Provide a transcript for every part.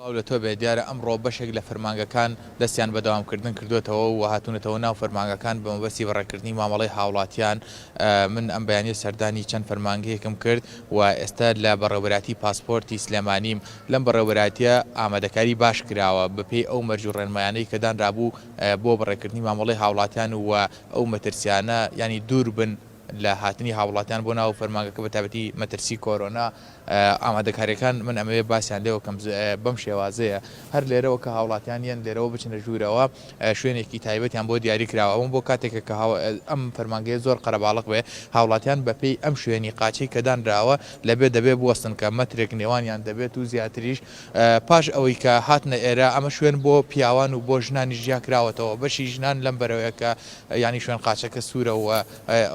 سڵاو لە تۆ بێت، دیارە ئەمڕۆ بەشێک لە فەرمانگەکان دەستیان بە دەوامکردن کردۆتەوە و هاتوونەتەوە ناو فەرمانگەکان بە مەبەستی بەڕێکردنی مامەڵەی هاوڵاتیان، من ئەم بەیانیە سەردانی چەند فەرمانگەیەکم کرد و ئێستا لە بەڕێوەبەرایەتی پاسپۆرتی سلێمانیم، لەم بەڕێوەبەرایەتیە ئامادەکاری باش کراوە بەپێی ئەو مەرج و ڕێنمایانەی کە دانرابوو بۆ بەڕێکردنی مامەڵەی هاوڵاتیان و ئەو مەترسیانە یانی دووربن، لە هاتنی هاوڵاتیان بۆ ناو فەرمانگەکە بە تایبەتی مەترسی کۆرۆنا ئامادەکاریەکان من ئەمەوێ باسیان لێوە کەم بەم شێوازەیە هەر لێرەوە کە هاوڵاتیان یەن لێرەوە بچنە ژوورەوە شوێنێکی تایبەتیان بۆ دیاری کراوە ئەوم بۆ کاتێکە کە ئەم فەرمانگەیە زۆر قەرەباڵق بێ هاوڵاتیان بە پێی ئەم شوێنی قاچەی کە دانراوە لە بێ دەبێ بوەستن کە مەترێک نێوانیان دەبێت و زیاتریش پاش ئەوەی کە هاتنە ئێرە ئەمە شوێن بۆ پیاوان و بۆ ژنانیش جیا کراوەتەوە بەشی ژنان لەم بەرەوەیە کە یانی شوێن قاچەکە سوورە و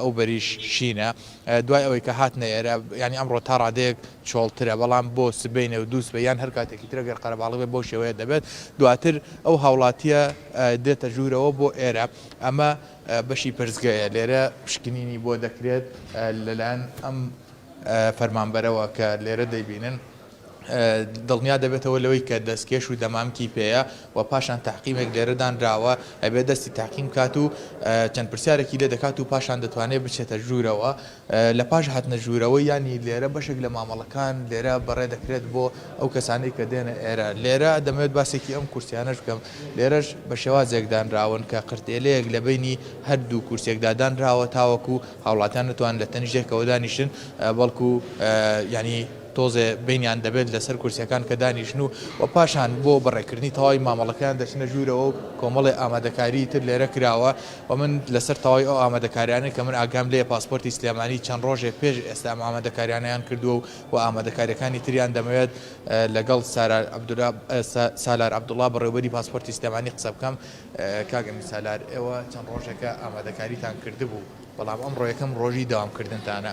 ئەو بەریش شینە دوای ئەوەی کە هاتنە ئێرە یانی ئەمڕۆ تا ڕادەیەک چۆڵترە بەڵام بۆ سبەینێ و دوو سبەی یان هەر کاتێکی ترە گەر قەرەباڵغ بێت بەو شێوەیە دەبێت دواتر ئەو هاوڵاتیە دێتە ژوورەوە بۆ ئێرە ئەمە بەشی پرسگەیە لێرە پشکنینی بۆ دەکرێت لەلایەن ئەم فەرمانبەرەوە کە لێرە دەیبینن دڵنیا دەبێتەوە لەوەی کە دەستکێش و دەمامکی پێیە و پاشان تەعقیمێک لێرە دانراوە ئەبێت دەستی تەعقیم بکات و چەند پرسیارێکی لێ دەکات و پاشان دەتوانێت بچێتە ژوورەوە لە پاش هاتنە ژوورەوە یانی لێرە بەشێک لە مامەڵەکان لێرە بەڕێ دەکرێت بۆ ئەو کەسانی کە دێنە ئێرە لێرە دەمەوێت باسێکی ئەم کورسیانەش بکەم لێرەش بە شێوازێک دانراون کە قرتێلەیەک لە بینی هەردوو کورسێکدا دانراوە تاوەکو هاوڵاتیان نتوان لە تەنیشێکەوە دانیشن بەڵکو ینی تۆزێ بەینیان دەبێت لەسەر کورسیەکان کە دانیشن و وە پاشان بۆ بەڕێکردنی تەواوی مامەڵەکەیان دەچنە ژوورەوە و کۆمەڵێ ئامادەکاریی تر لێرە کراوە و من لەسەر تەواوی ئەو ئامادەکاریانە کە من ئاگام لێیە پاسپۆرتی سلێمانی چەند ڕۆژێک پێش ئێستا ئەم ئامادەکاریانەیان کردووە و وە ئامادەکاریەکانی تریان دەمەوێت لەگەڵ سالار عبداللە بەڕێوەبەری پاسپۆرتی سلێمانی قسە بکەم کاک ئەمیر سالار ئێوە چەند ڕۆژێکە ئامادەکاریتان کردبوو بەڵام ئەمڕۆ یەکەم ڕۆژی دەوامکردنتانە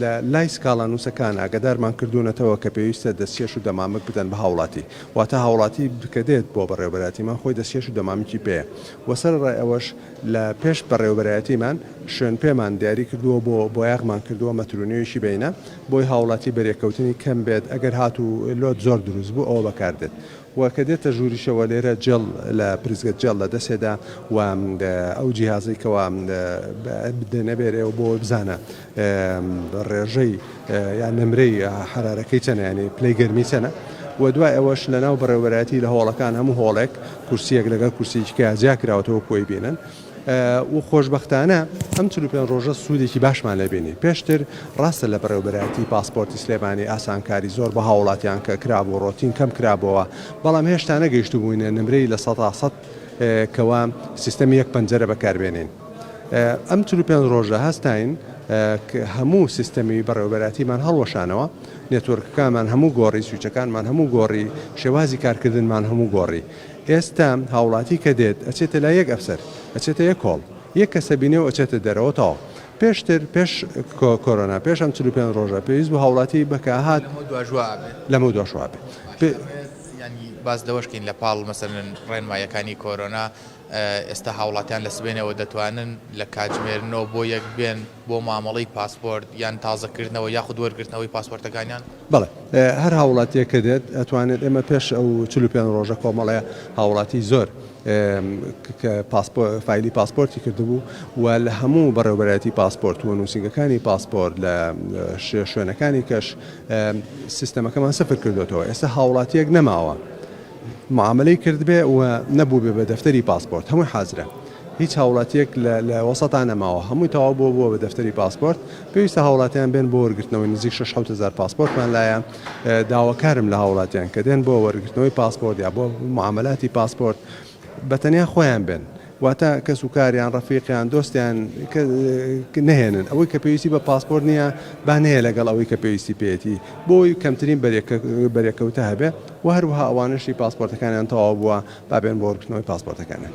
لە لای سکاڵانووسەکان ئاگادارمان کردوونەتەوە کە پێویستە دەستکێش و دەمامک بدەن بە هاوڵاتی، واتە هاوڵاتی کە دێت بۆ بەڕێوەبەرایەتیمان خۆی دەستکێش و دەمامکی پێیە و سەرەڕای ئەوەش لە پێش بەڕێوەبەرایەتیمان شوێنپێمان دیاری کردووە و بۆ بۆیاغمان کردووە مەترونوێژی بەینە بۆی هاوڵاتی بەرێکەوتنی کەم بێت ئەگەر هاتوو لۆت زۆر دروست بوو ئەوە بەکاردێت و کە دێتە ژووریشەوە لێرە جێڵ لە پرسگە جێڵ لە دەسێدا و ئەو جیهازەی کەوا دەنەبێرێ و بۆی بزانە ڕێژەی یان نمرەی حرارەکەی چەنە یانی پلەی گەرمی چەنە و دوای ئەوەش لە ناو بەڕێوەبەرایەتی لە هۆڵەکان هەموو هۆڵێک کورسیەک لەگەڵ کورسیکە جیا کراوەتەوە کۆی بینن و خۆشبەختانە ئەم چل و پێنج ڕۆژە سوودێکی باشمان لێ بینی، پێشتر ڕاستە لە بەڕێوەبەرایەتیی پاسپۆرتی سلێمانی ئاسانکاری زۆر بە هاووڵاتیان کە کرابوو ڕۆتین کەم کرابۆوە، بەڵام هێشتا نەگەیشتبووینە نمرەی لە سەدا سەد کەوا سیستەمی یەک پەنجەرە بەکار بێنین. ئەم چل و پێنج ڕۆژە هەستاین ک هەموو سیستەمی بەڕێوەبەرایەتیمان هەڵوەشانەوە، نێتوۆرکەکانمان هەموو گۆڕی، سویچەکانمان هەموو گۆڕی، شێوازی کارکردنمان هەموو گۆڕی. ئێستا هاوڵاتی کە دێت ئەچێتە لای یەک ئەفسەر ئەچێتە یەک هۆڵ یەک کەسە بینێ و ئەچێتە دەرەوە تەواو پێشتر پێش کۆرۆنا پێش ئەم چل و پێنج ڕۆژە پێویست بوو هاوڵاتی بەکە هات لەمەو دواش وا ئەبێ لەمەو دواش وا ئەبێ باشە ڕێز یانی باس لەوەش کەین لە پاڵ مەسەلەن ڕێنماییەکانی کۆرۆنا ئێستا هاوڵاتیان لە سبەینێوە دەتوانن لە کاتژمێر نۆ بۆ یەک بێن بۆ مامەڵەی پاسپۆرت یان تازەکردنەوە یاخود وەرگرتنەوەی پاسپۆرتەکانیان؟ بەڵێ، هەر هاووڵاتییەک کە دێت ئەتوانێت، ئێمە پێش ئەو چل و پێنج ڕۆژە کۆمەڵێ هاووڵاتیی زۆر کە پاسپۆ فایلی پاسپۆرتی کردبوو و لە هەموو بەڕێوەبەرایەتی پاسپۆرت و نووسینگەکانی پاسپۆرت لە شێ شوێنەکانی کەش سیستەمەکەمان سفر کردوێتەوە ئێستا هاووڵاتییەک نەماوە معاملەی کردبێ و نەبووبێ بە دەفتەری پاسپۆرت هەمووی حازرە. هیچ هاوڵاتیەک لە لە وەسەتا نەماوە هەمووی تەواو بووە بووە بە دەفتەری پاسپۆرت پێویستە هاوڵاتیان بێن بۆ وەرگرتنەوەی نزیک شەش حەوت هەزار پاسپۆرتمان لایە داواکارم لە هاوڵاتیان کە دێن بۆ وەرگرتنەوەی پاسپۆرت یا بۆ معاملاتی پاسپۆرت بە تەنیا خۆیان بێن واتە کەس و کاریان ڕەفیقیان دۆستیان نهێنن ئەوەی کە پێویستی بە پاسپۆرت نییە بانەیە لەگەڵ ئەوەی کە پێویستی پێێتی بۆی کەمترین بەرێکەوتە هەبێ و هەروها ئەوانشی پاسپۆرتەکانیان تەواو بووە بابێن بۆ ڕکنەوەی پاسپۆرتەکانیان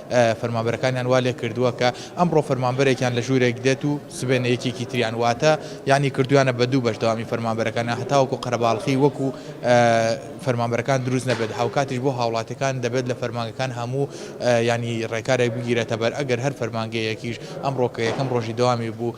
فەرمانبەرەکانیان وا لێکردووە کە ئەمڕۆ فەرمانبەرێکیان لە ژوورێک دێت و سبەینێ یەکێکی تریان واتە یانی کردوویانە بە دوو بەش دەوامی فەرمانبەرەکانیان هەتاوەکو قەرەباڵخی وەکو فەرمانبەرەکان دروست نەبێت هاوکاتیش بۆ هاوڵاتیەکان دەبێت لە فەرمانگەکان هەموو یانی ڕێکارێک بگیرێتەبەر ئەگەر هەر فەرمانگەیەکیش ئەمڕۆ کە یەکەم ڕۆژی دەوامی بوو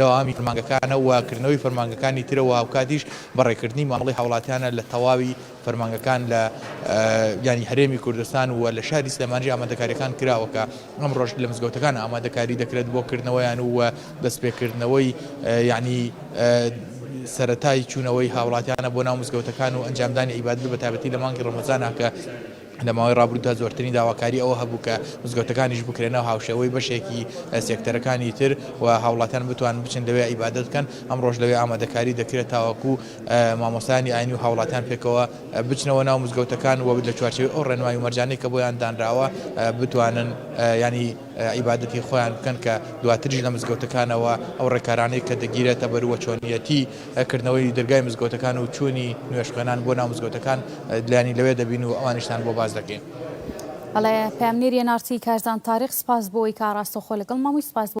دەوامی فەرمانگەکانە و کردنەوەی فەرمانگەکانی ترە و هاوکاتیش بەڕێکردنی مامەڵەی هاوڵاتیانە لە تەواوی فەرمانگەکان لە یانی هەرێمی کوردستان و لە شاری سلێمانیش ئامادەکاریەکان کراوە کە ئەمڕۆژ لە مزگەوتەکان ئامادەکاری دەکرێت بۆ کردنەوەیان و دەستپێکردنەوەی یعنی سەرەتای چوونەوەی هاوڵاتیانە بۆ ناو مزگەوتەکان و ئەنجامدانی عیبادەت بە تایبەتی لە مانگی ڕەمەزانە کە لە ماوەی ڕابردوودا زۆرترین داواکاری ئەوە هەبوو کە مزگەوتەکانیش بکرێنە هاوشێوەی بەشێکی سێکتەرەکانی تر و هاوڵاتیان بتوانن بچن لەوێ عیبادەت بکەن، ئەمڕۆش لەوێ ئامادەکاری دەکرێت تاوەکو مامۆستایانی ئاینی و هاوڵاتیان پێکەوە بچنەوە ناو مزگەوتەکان و لە چوارچێوەی ئەو ڕێنمای و مەرجانەی کە بۆیان دانراوە بتوانن یانی عیبادەتی خۆیان بکەن کە دواتریش لە مزگەوتەکانەوە ئەو ڕێکارانەی کە دەگیرێتە بەر وە چۆنیەتی کردنەوەی دەرگای مزگەوتەکان و چوونی نوێژ خوێنان بۆ ناو مزگەوتەکان لانی لەوێ دەبین و ئەوانیشتان بۆ باز دەکەین. بەڵێ پەیامنێری ئێن ئاڕ تی کارزان تاریق سپاس بۆ ئەوەی کە ئاڕاستەوخۆ لەگەڵ ماموی سپاس بۆ.